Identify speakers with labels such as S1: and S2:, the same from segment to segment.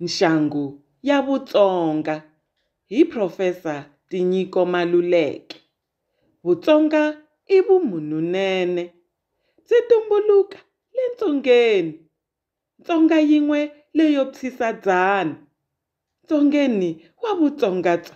S1: Nxangu ya Vutsonga hi Professor Tinyiko Maluleke. Vutsonga i vumunhunene. Byi tumbuluka le Ntsongeni. Ntsonga yin'we leyo physa dzana. Ntsongeni wa Vutsonga bya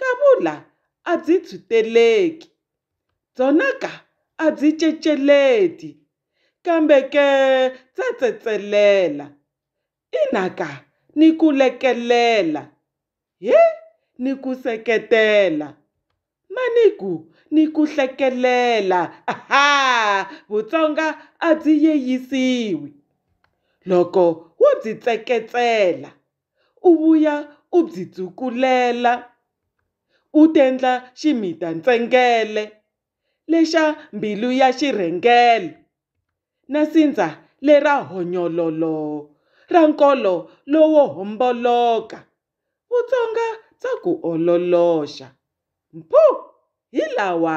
S1: Kavula a byi tshwiteleki, byona ka a byi ceceleti, kambe ke bya tsetselela, ina ka, ni ku lekelela, he, ni ku seketela, ma ni ku, ni ku hlekelela. Ha! Vutsonga a byi yeyisiwi, loko wo byi tseketsela. u vuya u byi tsukulela u tendla ximita-ntsengele lexa mbilu ya xirhengele na sindza lera honyololo ra nkolo lowo homboloka, Vutsonga bya ku ololoxa. Mpho! Hi lawa!